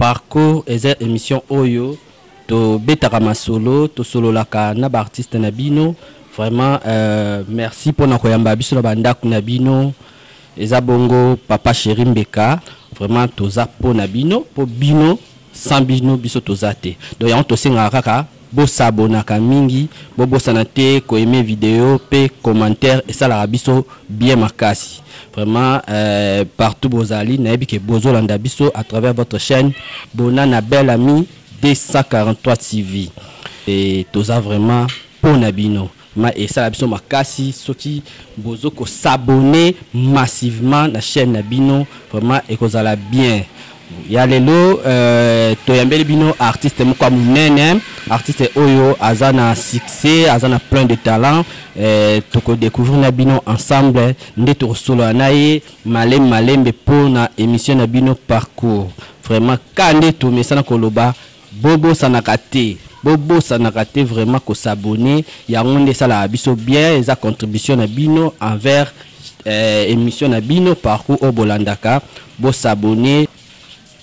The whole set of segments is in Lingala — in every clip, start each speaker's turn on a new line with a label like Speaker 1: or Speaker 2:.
Speaker 1: Parcours eza emission oyo to betaka masolo to sololaka na ba artistes na bino vraiment euh, merci pona koyamba biso na bandaku na bino eza bongo papa chéri mbeka vraiment toza po na bino po bino sans bino biso toza te donc yango tosengaka kaka Bo s'abonnaka mingi, bo bosana te ko aimer video pe commentaire esalaka biso bien makasi. Vraiment euh partout bozali nayebi ke bozo landa biso à travers votre chaine Bona na Belle Amie 243 TV. Et toza vraiment pona bino. Ma esala biso makasi soki bozo ko s'abonner massivement na chaîne na bino vraiment ekozala bien ya lelo euh, toyambeli bino artiste moko ya monene artiste oyo aza na succès aza na plein de talent euh, tokodécouvrir na bino ensemble nde tokosolola na ye malembe malembe mpo na émission na bino parcours vraiment ka nde tomesana koloba Bobosanaka te bobosanaka te vraiment ko s'abonner yango nde esalaka biso bien eza contribution na bino envers eh, emission na bino parcours oyo bolandaka bo s'abonner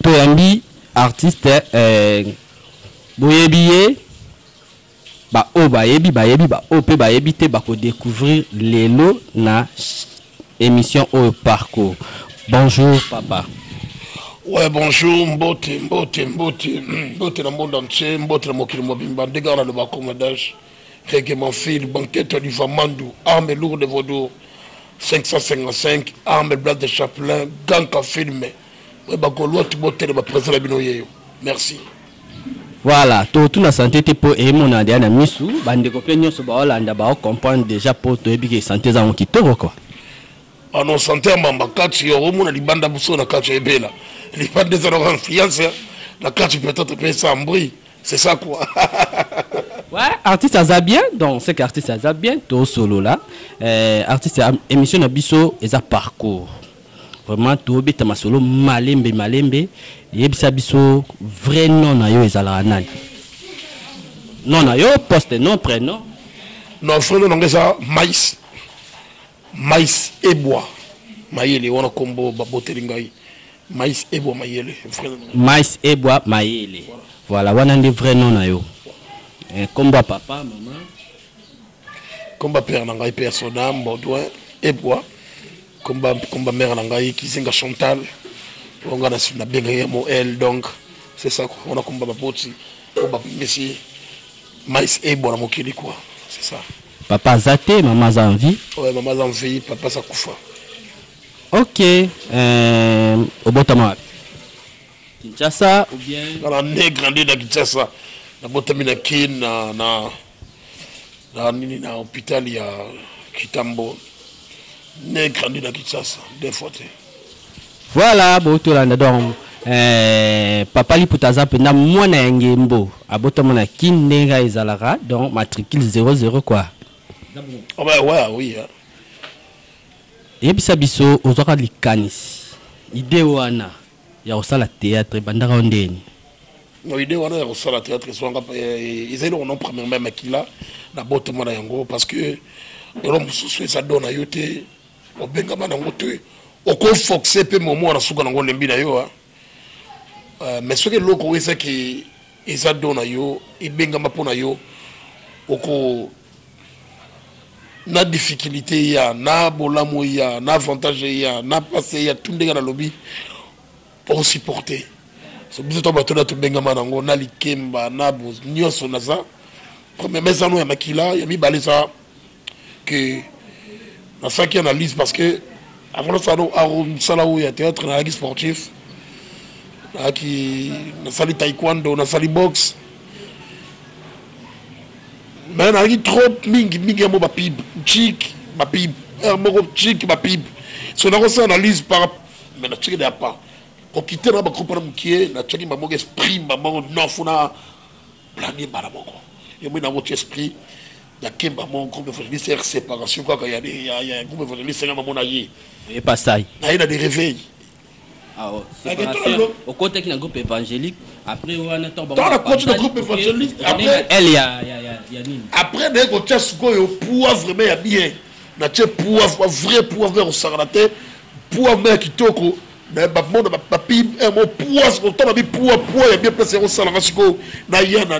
Speaker 1: toyambi artiste eh, boyebi ye Ba oyo bayebi bayebi ba oyo pe bayebi te bako decouvrir lelo na emission oyo parcours. Bonjour papa. Ouais,
Speaker 2: bonjour, mbote, mbote, mbote, mbote na monde entier, mbote na mokili mobimba, ndenge wana loba commandage, rege manfil, banquete du Vamandu, arme lourde vaudou, 555, arme black de chaplain, ganka filme, ouais, bagolois, tibote, le ba président la bino yeyo. Merci.
Speaker 1: Voilà, to tuna santé te po e mona dia na misu, ba ndeko pe nyoso ba Hollanda ba comprendre déjà po to yebi ke santé za ki toko quoi. Ah non,
Speaker 2: santé ya mamba kati yo mona libanda buso na kati ebela. Libanda za na confiance na kati peut-être pe sans bruit. C'est ça quoi.
Speaker 1: ouais, artiste aza bien, donc c'est qu'artiste aza bien, to solo là. Euh, artiste émission na biso eza parcours. vraiment tobeta masolo malembe malembe yebisa biso vrai nom na yo ezalaka nani nom na yo poste nom prénom non vrai
Speaker 2: nom nanga eza mais mais ebwa mayele wana kombo baboteli ngai mais ebwa mayele mais
Speaker 1: ebwa mayele voilà wana nde vrai nom na yo eh, kombo ya papa mama
Speaker 2: Komba père na ngai père soda Baudouin Ebwa komba komba mère na ngai Kizenga Chantal oyo ngai nabengaki ya moel donc c'est ça quoi wana komba baboti oyo babimisi mais Ebwa na mokili quoi c'est ça papa aza te
Speaker 1: mama aza en vie ouais, mama aza en vie
Speaker 2: papa aza kufa
Speaker 1: ok euh, obotama wapi kinshasa ou bien ngai na ne grandi
Speaker 2: na kinshasa nabotami na kin na, na na nini na hôpital ya Kitambo ne grandi na Kinshasa deux fois te voilà
Speaker 1: bo tolanda donc eh, papa liputa aza mpenza mwana ya ngembo abotama na kin ndenge kaka ezalaka donc matricule 00 kua oh,
Speaker 2: bah, ouais, oui, hein.
Speaker 1: yebisa biso ozwaka likanisi ide wana ya kosala theatre ebandaka yo ndeni no idee
Speaker 2: wana ya kosala theatre ezwanga eh, eza eloko non premièrement ya makila na botama na yango parce que eloko mosusu eza do na yo te obengama nango te okofoxe mpe momo wana suka nango olembi na yo ah. euh, mais soki eloko oyo ezaki eza do na yo ebengama mpo na yo oko na difficulté eya na bolamu eya na avantage eya na pasi eya tu ndenge nalobi osupporte so biso to bato na tobengama nango na likemba na nyonso naza premier mesano ya makila ya mibale eza ke nasalaki analyse parce que avant nasala mosala oyo ya théâtre nayaki sportif nayaki nasali taekwondo nasali boxe mais nalaki trop mingi mingi yango bapib chik bapib heure moko chik bapib so nakosala analyse par mais natiki na ya pa kokite na bagroupe na mokie natiaki mbala moko esprit mbala moko nofu na blani mbala moko yomoi nango ti esprit ya kemba mo groupe evangeliste r séparation kaka ya groupe evangeliste nga mamona ye epasai
Speaker 1: naye na de réveil okotaki na groupe évangélique après wana ntanakoti na groupe
Speaker 2: évangélique elle ya nini
Speaker 1: après naye
Speaker 2: kotia sikoyo poa vraiment ya bien natie poa vrai poa vrai kosakana te poa ma ya kitoko me bamona bapi eh, mo poa sikoyo ntango babi poa poa ya bien place ya kosalanga sikoyo naya na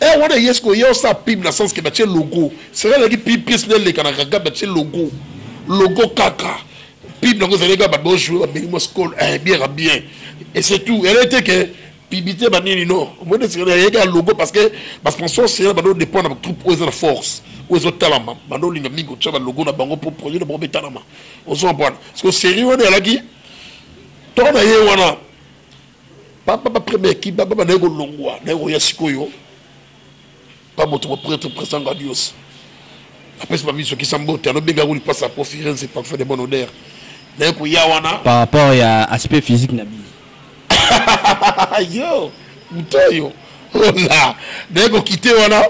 Speaker 1: Eh wana
Speaker 2: yes ko yo sa pub na sens que ba tie logo. C'est là ki pub pièce le kana kaka ba tie logo. Logo kaka. Pub na ko zele ka ba bo jouer ba bengi mo school eh bien bien. Et c'est tout. Elle était que pibite banini no omoni esikana yeke ya logo parce que basponsor sena bando dépend na batroupe oyo eza na force oyo ezotalama bando olinga mingi kotya balogo na bango mpo projet na bango betalama ozwa mpwana siko serie wana eyalaki to na ye wana papa ba premier équipe baba naye kolongwa naye koya sikoyo pa moto mopretre président gadios apesi bamiso kisa mbote alobenga yango lipasi ya confirense parfait de bon odeur naye koya wana
Speaker 1: par rapport ya aspect physique na bino
Speaker 2: yo moto oyo ola naye kokite wana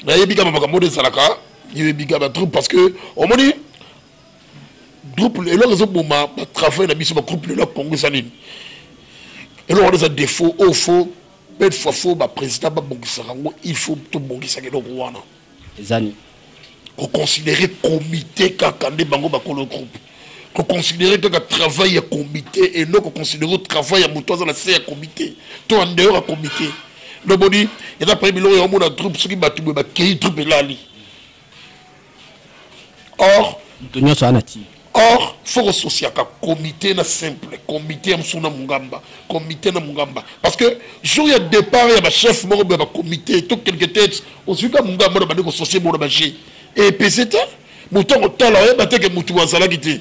Speaker 2: nayebi kama makambo oyo ezalaka yebi kama trop parce que omoni groupe eloko ezoboma batravail na biso bagroupe lelo ya congo eza nini eloko wana eza defaut oyo fo belle fois fo baprésident babongisaka yango il faut tobongisaka eloko wana ezani
Speaker 1: koconsidere
Speaker 2: comité kaka nde bango bakolo groupe koconsidere kaka travail ya comité et non koconsidere travail ya moto aza na se ya comité to en dehors ya comité loboni eza pale biloko ya omona groupe soki bato boye bakei groupe elali or moto nyonso aa na tii or faut kososiaka comité na simple comité ya mosusu na mungamba comité na mungamba parce que jour ya départ ya bachef moko boya bacomité to quelque tete ozuika mungamba na bandi kososie bongo na baje epese te moto akotala oyeba te ke motu azalaki te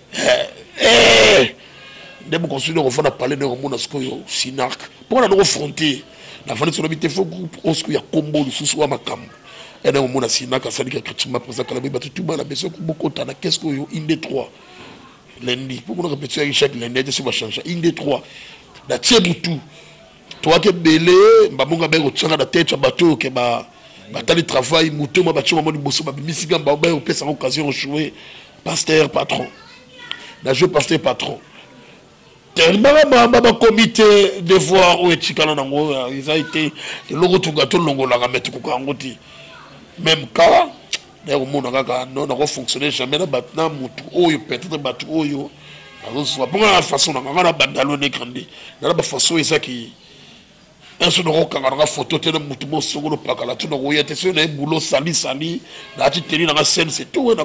Speaker 2: nde mokonzi nde kofanda pale nde komona sikoyo sinark mpo na noko fronte na fandi solobi te fo groupe o sikoyo ya kombo lisusu wa makambo ene komona sinark asali ka katima mpenza kala boyi bato tuma na beso bokota na keske oyo inde 3 lendi mpo monaka petso yaki chaque lendi ete so bachange inde 3 na tie butu toyaki ebele mbabongo abai kotyaka na tete ya bato oyo ke batali travail moto ma batye bango liboso babimisi mpe mbao bai kopesa yango occasion ojoue pasteur patron na joue pasteur patron tellement bakomi te devoir oyo etikala nango eza ete eloko toka tolongolaka me tokoka yango te même cas naye komona kaka no nako fonctionner jamais na bato na motu oyo peut-être bato oyo nazozwa mpo na façon nanga nga na bandalo ne grandi nana bafaçon ezaki un jour nakokanga nanga photo te na motu mo songo lopakala tu nakoya te soki naye boulot sali sali naati teni nanga scène c'est tout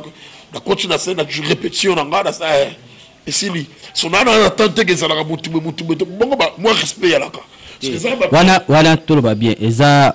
Speaker 2: nakoti na scène na répétition na nga nasa eh, esili so naa na na temps teke ezalaka motu boye motu boye te bongo mwa respect yalaka wana wana
Speaker 1: toloba bien eza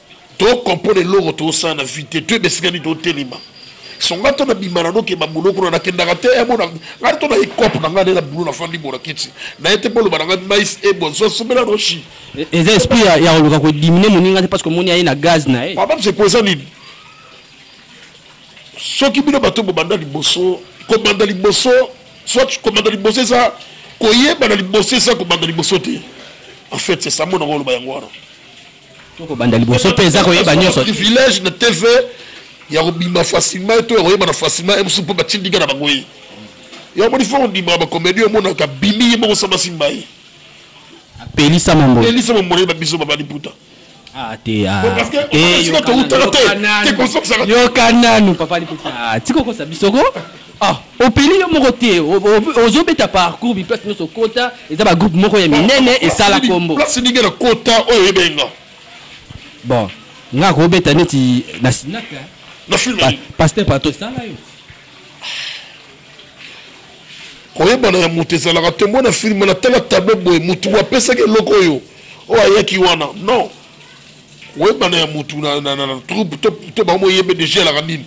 Speaker 2: to comprendre eloko tosala na vie te to ebesikani totelema so ngai to nabima nano ke babulo kuna nakendaka te emona eh, ngai to na ecope na ngai nde na bulo nafandi bona kiti na ye te boloba na ngai mais ebonso somela no shi e, eza esprit
Speaker 1: ya koluka kodimine moninga te parce que omoni aye na gaz na ye papa mseko eza nini
Speaker 2: soki bino bato bobanda liboso kobanda liboso soit kobanda liboso eza koyebana liboso eza kobanda liboso te en fait c'est ça mona koloba yango wana tokobanda
Speaker 1: liboso mpe eza koyeba nyonso privilège na tv
Speaker 2: ya kobima facilement eto ya koyebana facilement ye mosusu mpo batindika na bango ye yo amoni fo kondimaka bakomedi omonaka bimi ye moko sama simba ye
Speaker 1: apelisa mamboapelisa mambo na ye babiso babali
Speaker 2: puta ah, te
Speaker 1: ah. eh,
Speaker 2: tokutaka te te kosakisaka yoka nanu papa
Speaker 1: liputa ah, tikokosa bisoko Ah, opeli yo moko te ozobeta parcours biplace nyonso okota eza bagroupe moko ya minene esala kombo place ndenge na kota
Speaker 2: oyo oyebeli nga bon
Speaker 1: nga akobeta neti na sinaka na film
Speaker 2: paster pato
Speaker 1: esala
Speaker 2: yo koyebana ya moto ezalaka tombo na filme natala tablo boye motu apesaki eloko oyo oyo ayaki wana non oyebana ya mutu na, na, na, na troupe to, to bango oyebe deja elaka nini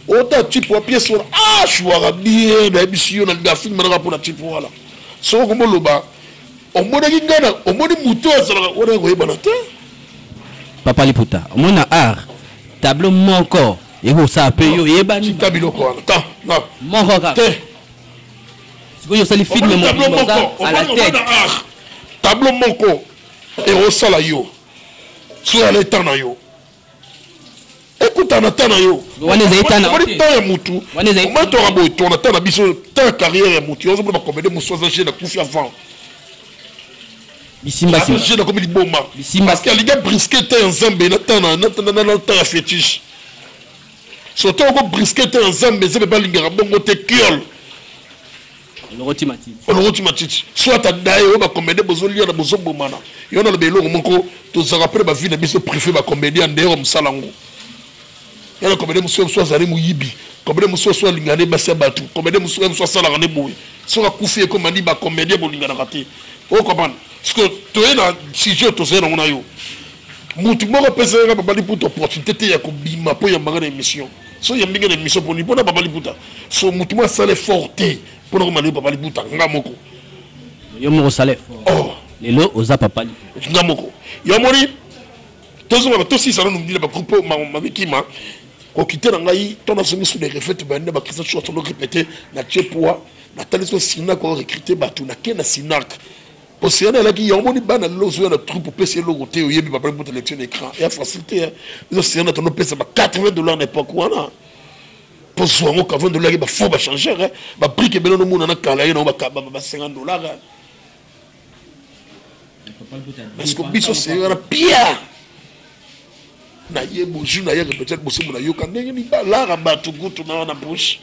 Speaker 2: ota type wa pièce wana ah shuaka bien nayebisi yo nalinga afilme manaka mpo na type wana soko komoloba omonaki ngai na omoni moto oyo azalaka wana koyebana te
Speaker 1: papa liputa omoni na art tableau moko ekosala mpe yo oyebani ta biloko wana ta
Speaker 2: moko kaka te
Speaker 1: sikoyo osali filme moko à la tête tableau
Speaker 2: moko ekosala yo soki na leta na yo ekutana ta na yo wana ezali ta na omoni
Speaker 1: ta ya mutu
Speaker 2: omoni toka boye tona ta na biso ta ya carrière ya mutu yo ozomona bakomede mosusu aza jeune akufi avant
Speaker 1: bisimbajeune akomi liboma
Speaker 2: parce que alingi abriske ta ya nzambe na ta na ta ya fétiche soto oko briske ta ya nzambe nzambe balingaka bongo te kiole olokoti matiti
Speaker 1: olokoti matiti soit
Speaker 2: adaye oyo bacomédien bozoliana bozobomana yo naloba eloko moko tozalaka mpe na bavie na biso prive bacomédien ya ndeyoko mosala yango yana comédien mosusu mosusu azali moyibi comédien mosusu mosusu alingana nde basi ya bato comédien mosusu mosusu asalaka nde boye soki akufi ekoma nde bacomédien bolinganaka te okomana parceke toye na sujet tozali nango na yo motu moko apesaka babali mputu opportunité te ya kobima mpo ya mbanga na émission so yambi nga na emission poni mpona papa liputa so motu mwa asala effort te mpona komana yo papa liputa nga moko yo
Speaker 1: moko osala effort oh. lelo
Speaker 2: oza papa
Speaker 1: liputa nga moko yo amoni
Speaker 2: tozongaka tosisa nanu mbila bagroupe oyo mabikima kokite na ngai to nazongi su de refete bande bakristo sho asolo repete na tie poa natalisi osina ko recrute bato nake na sinac Oceana alaki yango moni bana lelo ozoya na troupe opesi eloko te oyebi babali mpo telection na écran ya facile te biso oceana tono pesa ba 80 dollars na époque wana mpo zwa yango 80 dollars yaki bafaux bachangeur babrike ebele nomona na kala ye nango ba 50 dollars parce que biso seyo wana pia na ye bozwi na ye peut-être bosembo nayoka ndenge mibalara bato kutu na wana bouche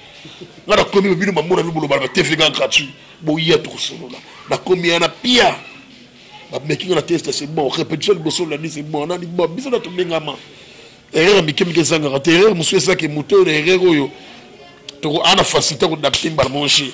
Speaker 2: nga nakomi bino bamona mi bolobala ba tv nga gratuit boya tokosolola nakomi yana pia bameki nga na teste c'est bon répétition liboso olandi c'est bon nani bon biso na tobengama erreur mike mike ezangaka te erreur mosusu ezaki moto oyo na erreur oyo toko ana facilité kodapte mbala monge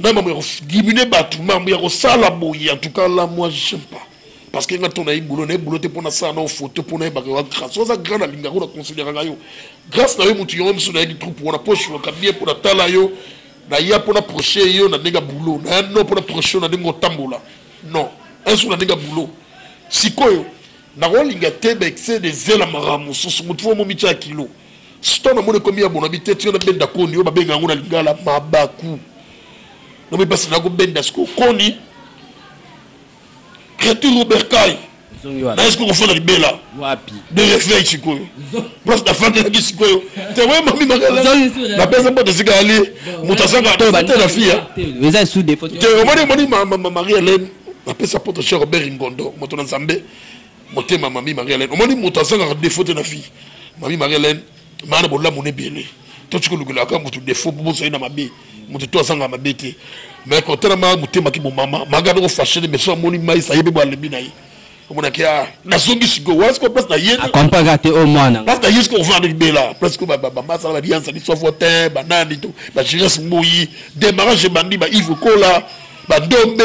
Speaker 2: ngai mambo ya kodiminue bato mambo ya kosala boye en tout cas la moi j'aime pas parce que nga to naye boulot naye boulot te mpo nasala nao photo mpo nayebaka yoa grâce oza grand nalingaka na considéraka nga yo grâce na yo motu yango misu nayaki troupe wana mpo oshuaka bien mpo natala yo naya mpo na proche yo na ndenge ya boulot naya no mpo na proche yo na ndenge otambola non un jour na ndenge ya boulot sikoyo nakolinga te baexcès de zela makambo mosusu motu fo momitya kilo Sito na moni komi ya bona bite tino na benda koni yo babenga yango na lingala mabaku na moni basi na ko benda siko koni creature Robert Kai na esko ko fona libela wapi de reflet siko place na fanda ki siko yo te we mami magala na pesa mbote sika ali mutasanga to te na fia eza sous défaut
Speaker 1: te omoni moni ma Marie
Speaker 2: Hélène na pesa poto cher Robert Ngondo moto na Nzambe motema mami marie helene omoni moto azangaka defo te na vie mami marie helene maa na bolamu na ebele totika olukelaka moto defo mpo bozali na mabe moto to azanga mabe te mais kotalama motema ki bomama maga noko fashe te mais so amoni mais ayebi bo alembi na ye omonaki a ah, nazongi sikoyo wasko place na ye akompaka te o mwana
Speaker 1: place na ye sikoyo ovanda
Speaker 2: libela place ko bamasala baliansa biso avo te banani to bagirese mbuyi demarage ebandi baive kola badombe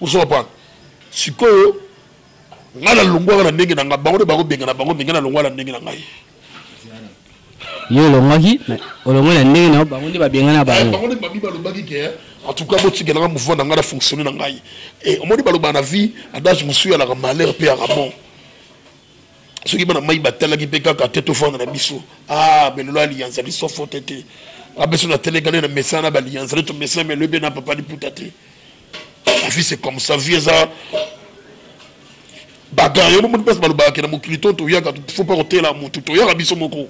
Speaker 2: osopana sikoyo ngai nalongwaka na ndenge na ngai bango nde bakobenga na bango mingi nalongwa na ndenge na ngai yo
Speaker 1: olongwaki olongwe na ndenge na bango nde babenga na bango eh, bango nde babi balobaki ke
Speaker 2: eh, en tout cas botikelanga mouvement na ngai na fonctionne na ngai eh, omoni balobaka na vie adage mosusu yalaka malheur mpe yaka bon soki bana mai batalaki mpe kaka te tofanda na biso ah belelo aliyanza liso fote te abeso na telegane na mesana na baliyanza le tomesana meloi mpe na papa liputa te la vie c'est comme ça vie eza bagarre yo bomoni place balobaka ke na mokili to toyaka fo mpa kotela motu toyaka biso moko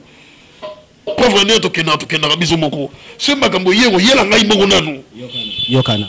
Speaker 2: preuve nde tokendaka tokendaka biso moko soki makambo ye koyela ngai moko nanu yokana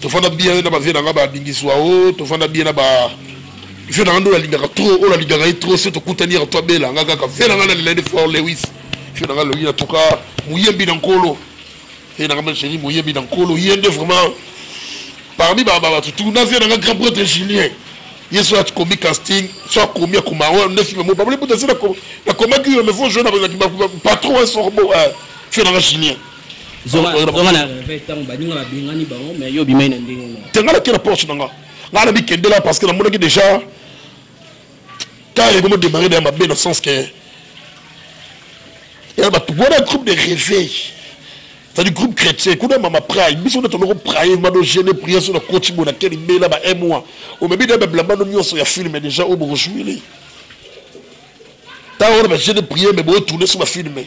Speaker 2: tofanda bien na ba vieux na nga ba bingiswa o oh, tofanda bien na ba vieux na nga ndo nalingaka trop oyo oh, nalingaka ye trop so tokutani ya to abela nga kaka vieux na nga nalela nde fort lewis vieux na nga loyi na toka moyembi na nkolo ye na nga ma chérie moyembi na nkolo ye nde vraiment parmi bato tu na vieux na nga grand prêtre julien ye so akomi casting so akomi akoma oyo nde filme mo babole buta se nakomaki yo mais fo jeu na patron un sorbo vieux na nga julien zonga na reve ntango
Speaker 1: baninga babengani bango mais yo obimai na ndenge na te ngai nake na poche na nga
Speaker 2: ngai na mikendela parce que namonaki déjà car ekomi odemare na ya mabe na sens que ya bato wana groupe de réveil c'est-à-dire groupe chrétien kuna mama praye biso nde toloko praye mano gene prière so na koti bo na keli mbela ba mwa omebi na babilambano nyonso ya filme déjà oyo bokojouile ntango wana bagene prière me boetourne so bafilme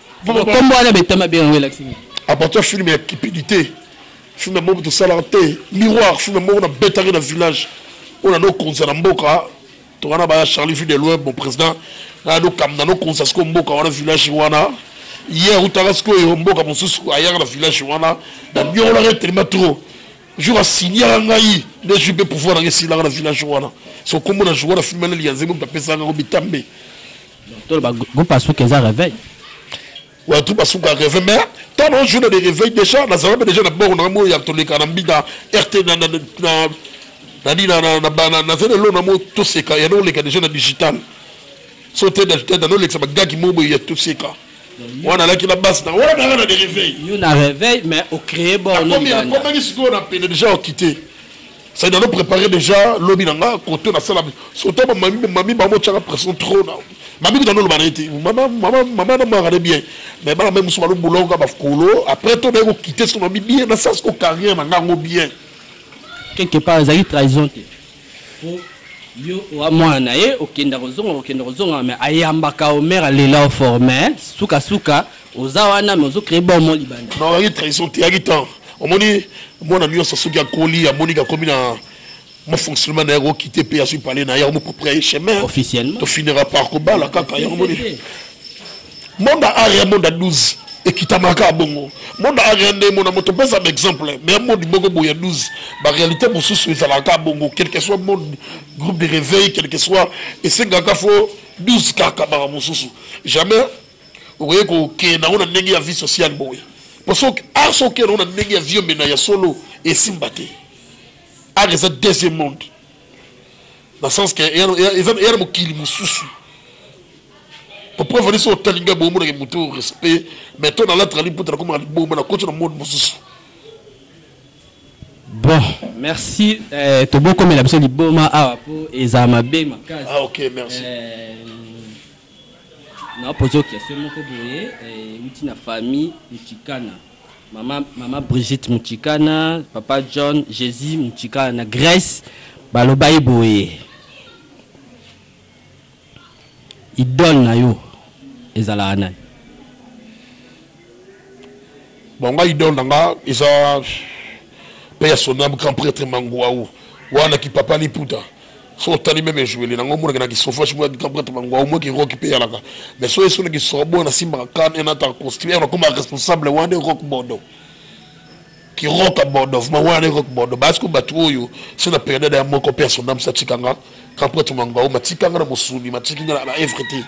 Speaker 1: kombo wana betama bien yango elakisi nini apart ya filme
Speaker 2: ya kipidite filme moko tosalaka te miroir filme moko nabetaki na village oyo nanokonza na mboka toka na baya charlie vue de loin bon président naya nokamna nokonza sikoyo mboka wana village wana ye autaka sikoyo mboka mosusu ayaka na village wana na miolaka etelema trop jour asignaka ngai nde jui mpe pouvoir nanga esilaka na village wana so kombo na joua na filme na liyanzembe moto apesaka yango bitambe toloba
Speaker 1: groupe asuka eza réveil oyo
Speaker 2: tout basuka reve mais ntango na journée de réveil déjà nazalaka déjà na boko nanga moyo ya toleka na mbida rt nani nazali elo na mo toseka ya noleka déjà na digital so te digital nanolekisa bagaki mo boye ya toseka wana alaki na base na wana nanga na de réveil yo na réveil mais
Speaker 1: ocréer bornakomaki sikoyo
Speaker 2: na pene déjà okite Ça doit préparer déjà lobi nanga côté na sala surtout ba mami mami ba mo tchaka pression trop na mami dans le barete maman maman maman na mara bien mais ba même sur le boulot ka ba kolo après to ba ko quitter son ami bien na ça ce carrière nanga ngo bien quelque
Speaker 1: part ezali trahison te po yo oa mwana na ye okenda kozonga okenda kozonga mais ayambaka omere alela ofort mais sukasuka oza
Speaker 2: wana
Speaker 1: mais ozo créer
Speaker 2: bombo
Speaker 1: libanda non
Speaker 2: yaki
Speaker 1: trahison te yaki
Speaker 2: temps
Speaker 1: omoni
Speaker 2: mwana nyonso soki akoli amoni akomi na mo fonctionnement na ye akokite mpe azwi pale na ye yango mopropre ya ye chemin officiellement tofinira
Speaker 1: par
Speaker 2: kobala kaka yango moni monde ya area monde ya 12 ekitamaka bongo monde ya area nde mona moto mpeza ba exemple mais monde moko boye ya 12 baréalité mosusu ezalaka bongo quelque soit monde groupe de réveil quelque soit esengaka fo 12 kaka baka mosusu jamais okoki kokende nango na ndenge ya vie sociale boye po soki ar soki okende nango na ndenge ya vie omena ya solo esimba te ar eza deuxième monde na sens ke eza na mokili mosusu poprevani so otali ngai boye omonaka motu respect mais to nalatrali mputa nakomaka liboma nakoti na monde mosusu
Speaker 1: bon merci eh, tobokomela biso liboma awa po eza mabe makasi ah, ok merci
Speaker 2: eh,
Speaker 1: Na poser yo question moko boye, ewuti na famille Mutshikana. Mama, mama Brigitte Mutshikana, papa John, Jesus Mutshikana na Grèce, balobaki boye, idole na yo ezalaka nani?
Speaker 2: Bon nga idole na nga eza pe ya sonam grand prêtre Manguau wana ki papa liputa so otali meme ejoueli nango omonaka na kisofashi mwa grand prêtre Manguau mwa ki rock pe yalaka mais so esona ki sorbo na simbaka kan enata construire na koma responsable wana rock bodo ki rock bodo vraiment wana ne rock bodo basi ko batu oyo c'est na période ya moko père son âme satikanga quand prêtre mangwa o matikanga na musuni matikinga na everything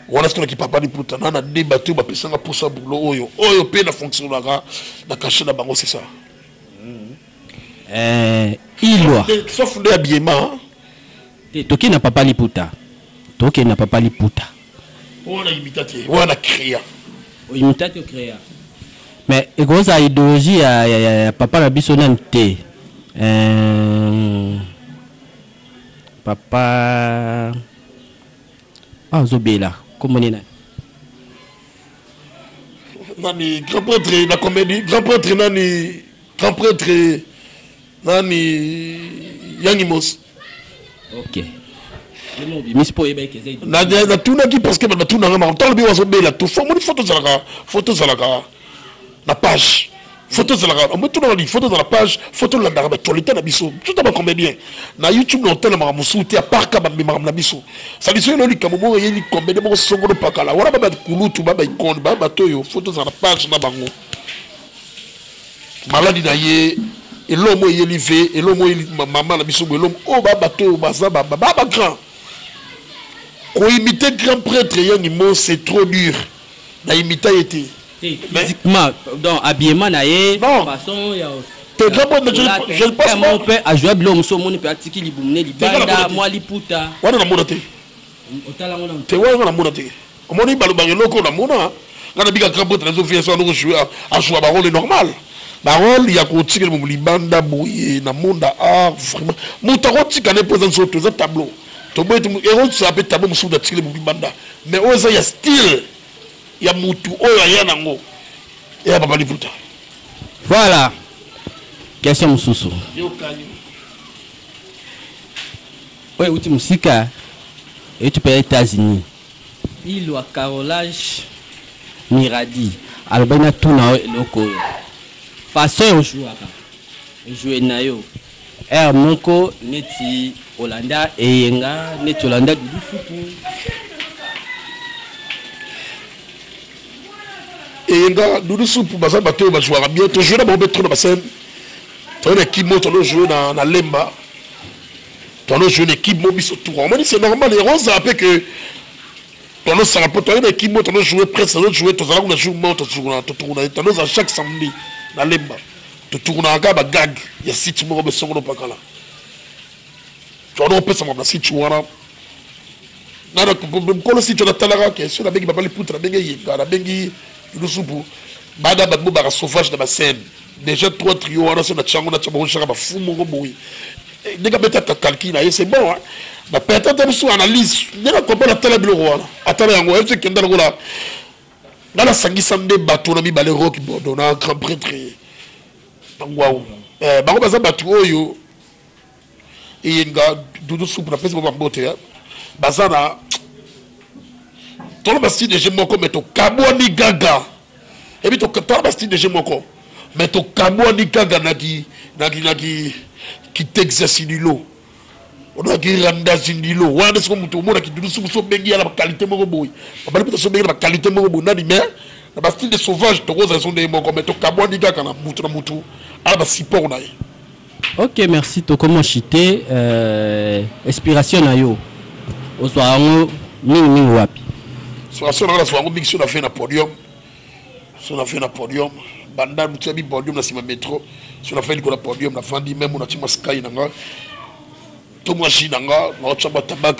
Speaker 2: wana soki na kipapa liputa na na de bato ba pesanga posa bulo oyo oyo pe na fonctionnaka na cachet na bango c'est ça
Speaker 1: euh ilwa sauf de
Speaker 2: habillement
Speaker 1: toki na papa liputa toki na papa liputa oyo na
Speaker 2: imita te oyo na créa
Speaker 1: imita te créa mais ekozala idéologie ya, ya, ya, ya papa na biso nani te euh, papa ah, azobela komoni nani
Speaker 2: nani grand prêtre na comédie grand prêtre nani grand prêtre nani yangi mosi
Speaker 1: ok
Speaker 2: natunaki parce que bato batunanga maka ntango lobi bazobela to fo omoni foto ezalaka foto ezalaka na page foto ezalaka omotunaka nini foto ezala page foto olandaka bactualité na biso tuta bacomédien na youtube na otalamaka mosusu te aparka bamemaka na biso saliso elo likambo moko eyeli comédien moko songolo pakala wana babaikulutu babaikone babato oyo foto ezala na page na bango maladi na ye eloko moko eyeli ve eloko moko eyeli mama na biso boye eloko oyo babato oyo baza ba bagrand koimite grand prêtre yani mo c'est trop dur na imita ye te physiquement
Speaker 1: donc habillement na ye façon ya te grand prêtre
Speaker 2: je ne pense pas mpe azwa biloko
Speaker 1: mosusu omoni mpe atiki libumu ne libanda mwa liputa wana namona te te wana namona te
Speaker 2: omoni balobaka eloko namona nga nabika kaka bote nazo vie soki azokojoue ajoua barole normal barole ya kotikela momo libanda boye na monda a vraiment moto akotika ne mpo eza nzoto eza tableau toboye te ekozala mpe tableau mosusu moto atikeli momo libanda mais oyo eza ya style ya motu oyo aya nango eya papa liputa voilà
Speaker 1: question mosusu oyo euti mosika euti mpe ya Etats-Unis ilo ya carolage miradi alobaki na tuna yo eloko oyo façon ojouaka joue na yo heure moko neti olanda eyenga neti olanda dudu supu
Speaker 2: eyenga dudu supu baza bato oyo bajouaka bien tojoue na bango mpe trop na basene toyena kimoto alojoue na lemba tono jouer na équipe mo biso tour omoni c'est normal yango ozala mpe que tono sala mpo toyeba équipe mo tono jouer presse tono jouer tozala kuna jour mo totukuna totukuna tono ozala chaque samedi na lemba totukunaka kaka bagag ya site moko besongo nopakala tono opesama na site wana nana mokolo site wana atalaka ke soki nabengi babali puta nabengi eyenga nabengi lusupu bana bato bobaka sauvage na bascène Déjà trois trio wana se na tiango na tiango shaka ba fou moko boye. Eh, Ndeka beta ta calcul na ye c'est bon hein. Na peta ta biso analyse. Ndeka comprendre tala biloko wana. Atala yango elle se kenda lokola. Nga na sangisa nde bato na mibale Rock Bodo na grand prêtre. Bango eh, bango baza bato oyo eye nga dudu supu napesi bango bambote eh. baza na toloba style de jeu moko me tokabwani gaga ebi toloba style de jeu moko me tokabwani gaga na kitexasi lilo odaki randa zindilo wana siko moto omona kidudu suku so obengi ya na bakalite moko boye babali mpe tosobengi na bakalite moko boye nani me na bastyle de sauvage tokozala so ndenge moko me tokabwani kaka na motu na motu ala basupport na ye Ok
Speaker 1: merci tokomo chite euh, inspiration na yo ozwa yango mingi mingi wapi? Inspiration na nga
Speaker 2: nazwa yango mingi so na fai na podium so na fai na podium banda motu ya bipodium na nsima metro so na fai likolo ya podium nafandi meme natima sky na nga to mwa ji na nga naotya mwa tabak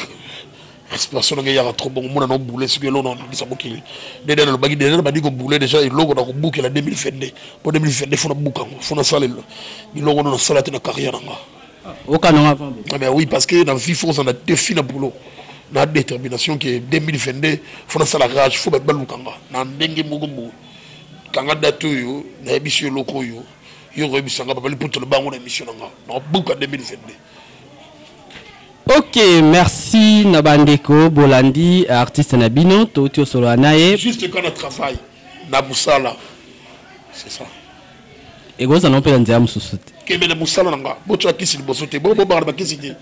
Speaker 2: respiration nanga eyaka trop bongo mona nobule soki eloko naoningisa mokili dede nalobaki dede nabandi kobule deja eloko nakobukela 2022 mpo 2022 fona buka yango fona sala biloko wana nasala te na carrière nanga okananga
Speaker 1: ah, mais oui parce que na
Speaker 2: vie fo ozala na défi na boulot na détermination ke 2022 fo nasala rage fo bato baluka nga na ndenge moko boye kanga date oyo nayebisi yo eloko oyo yo okoyebisa nga babali mputolo bango na émission na nga nakobuka 2022
Speaker 1: Ok, merci na bandeko bolandi artiste na bino touti osolola na ye. Juste quand na travail
Speaker 2: na musala. C'est ça. ekozala
Speaker 1: na mpela nzela mosusu te kembe na mosala na nga
Speaker 2: botya kisi liboso te bobobaka na bakisi te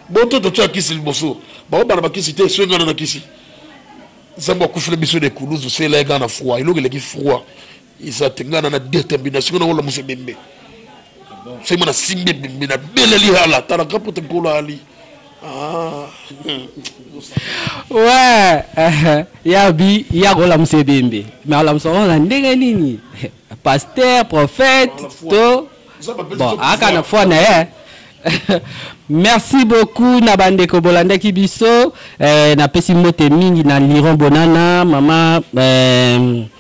Speaker 2: boto totya kisi liboso bakobaka na bakisi te soki nga na na kisi nzambe akufela biso na ekulusu sela ye nga na froid eloko eleki froid eza te ngai na na determination ngai nakolamusa ebembe soki mwana simbi ebembe na beleli hala talaka pote nkolo ali ah.
Speaker 1: we eh, ya bi ya kolamusa ebembe me alamusa ngo na ndenge nini paster prophète to bon aka na foi na ye merci beaucoup na bandeko bolandaki biso eh, napesi mbote mingi na liron bonana mama eh,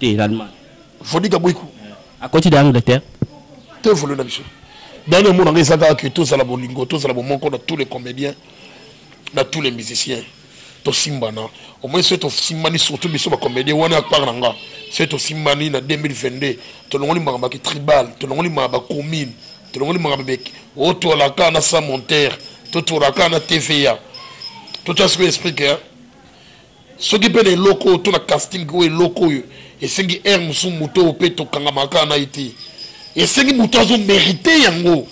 Speaker 2: te l'allemagne
Speaker 1: vodika
Speaker 2: boiku akoti da
Speaker 1: angleterre te volo
Speaker 2: na biso dani omona ngai eza kaka ke tozala bolingo tozala bomoko na tous les comédiens na tous les musiciens tosimbana omoi soki tosimbani surtout biso bacomédien wana ya part na nga soki tosimbani na 2022 tolongoli makambo ya kitribal tolongoli makambo ya commune tolongoli makambo meki otwalaka na sa montere totwalaka na tva totya sikoyo esprit ke soki mpe na eloko oyo to na casting oyo eloko oyo esengi aire mosusu moto oyo mpe tokangamaka kaka na ye te esengi moto azo merite yango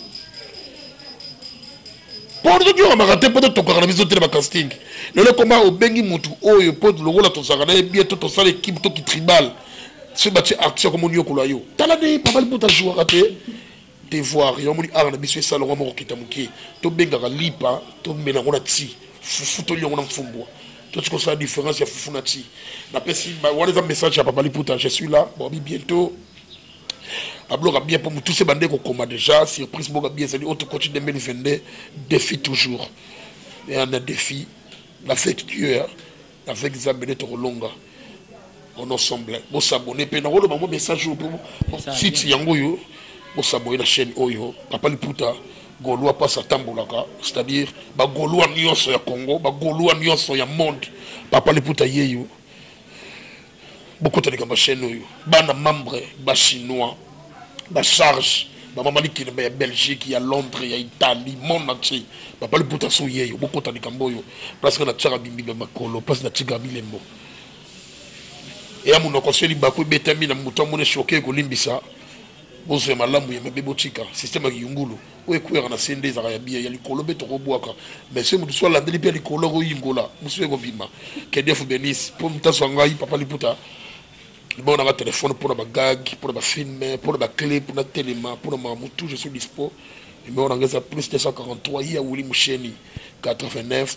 Speaker 2: mpo soki okamaka te mpo totokaka na biso te na bacasting lelo ekoma obengi motu oyo mpo lokola tozalaka na ye bie to tosala ekipe to kitribal soki batie artiste akomoni yokola yo tala nde papa liputa jouaka te te voir yo moni art na biso esala ngo moko kita mukie to bengaka lipa to mena ngo na ti fufu to liongo na mfumbwa to tiko sa différence ya fufu na ti na pesi ba wana za message ya papa liputa je suis là bon bientôt abloka bien mpo motu se bande kokoma déjà surprise boka bien ezali oyo tokoti 2022 défi toujours na défi na fake dieu Avec Nzambe nde tokolonga. On ensemble. Bo s'abonner pe na wolo bango message oyo po site yango yo. Bo s'abonner na chaîne oyo. Papa Liputa Golois pasa tambolaka, c'est-à-dire ba Golois nionso ya Congo, ba Golois nionso ya monde. Papa Liputa yeyo. bokota likambo ya chaîne oyo bana membre ba chinois ba charge bamama likeleba ya belgique ya londres ya italie monde entier babali puta so yeyo bokota likambo oyo place nga natiaka bimbimba makolo place natika bilembo eya monoko se libaku ebetami na moto amoni shoke ekolimbisa bozwa ya malamu ya mabe botika systeme ya kiyungulu Oyo ekweyaka na se nde ezalaka ya bien, ya likolo mpe tokobwaka. Mais soki moto mosusu alandeli mpe ya likolo, ekoyingola, mosusu mpe ekobima. Que Dieu vous benisse. Mpo moto azwa ngai, Papa Liputa, numéro na ngai ya telefone mpo na ba gag, mpo na ba film, mpo na ba clip, natelema, mpo na makambo tout, je suis dispo. Numéro na ngai eza plus 243, ye ya Willy Musheni, 89.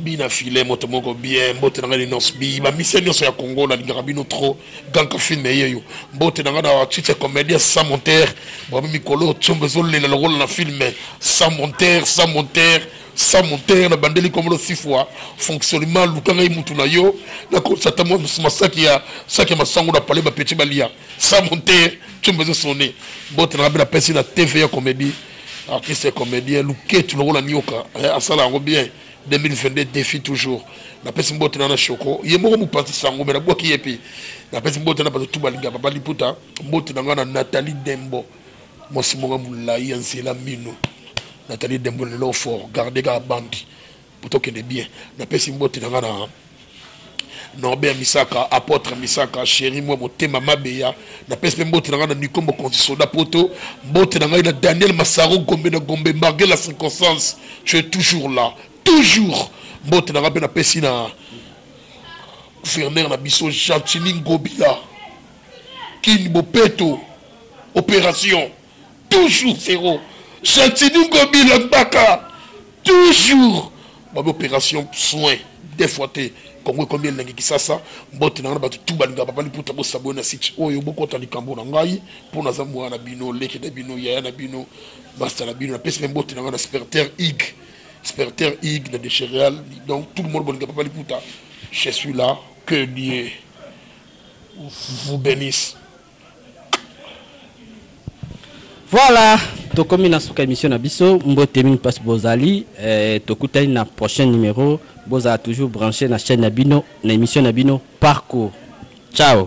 Speaker 2: Bi na filet moto moko bien mbote na nga linos bi ba mise nioso ya congo na lingaka bino trop ganka film eyeyo mbote na nga na chiche comedia sans monter bwa mikolo tsombo ezolela lokola na film sans monter sans monter sans monter na bandeli komolo sifwa fonctionnement luka ngai mutu na yo nakolisa ata masaki ya saki ya masango na pale bapeti balia sans monter tsombo ezosone mbote na nga mpe napesi na tv ya comedie artiste comédien luketu lokola nioka eh, asala yango bien 2022 défi toujours napesi mbote na na shoko ye moko mopanzi sango me nabwaki ye mpe napesi mbote na bato tu balinga papa liputa mbote na ngai na nathalie dembo mwasi moko molai ya nzela mino nathalie dembo lelo fort garde kaka bandi Tokende bien. Napesi mbote na nga na Norbert Misaka, Apotre Misaka, Chéri moi motema mabeya. Napesi pe mbote na nga na Nikombo Konzi Soda Poto. Mbote na ngai na Daniel Masaro Gombe na Gombe malgré la circonstance, tu es toujours là. Toujours. Mbote na nga pe napesi na gouverneur na biso Gentini Ngobila. Kin Bopeto. Opération. toujours zero gentini ngobi la gbaka toujours babi opération soin des fois te kongo ekomi elengi kisasa mbote na ngai na bato tu balinga papa liputa bosabwe na site oyo bokota likambo na ngai mpo naza mwana na bino leki na bino yaya na bino masta na bino napesi mpe mbote na ngai na sperter ig sperter ig na dechereal donc tout le monde bolinga papa liputa je suis là que dieu vous bénisse
Speaker 1: Voilà, tokomi na suka émission na biso mbote mingi mpasi bozali eh, tokutani na prochain numéro bozala toujours branché na chaîne na bino na émission na bino parcours ciao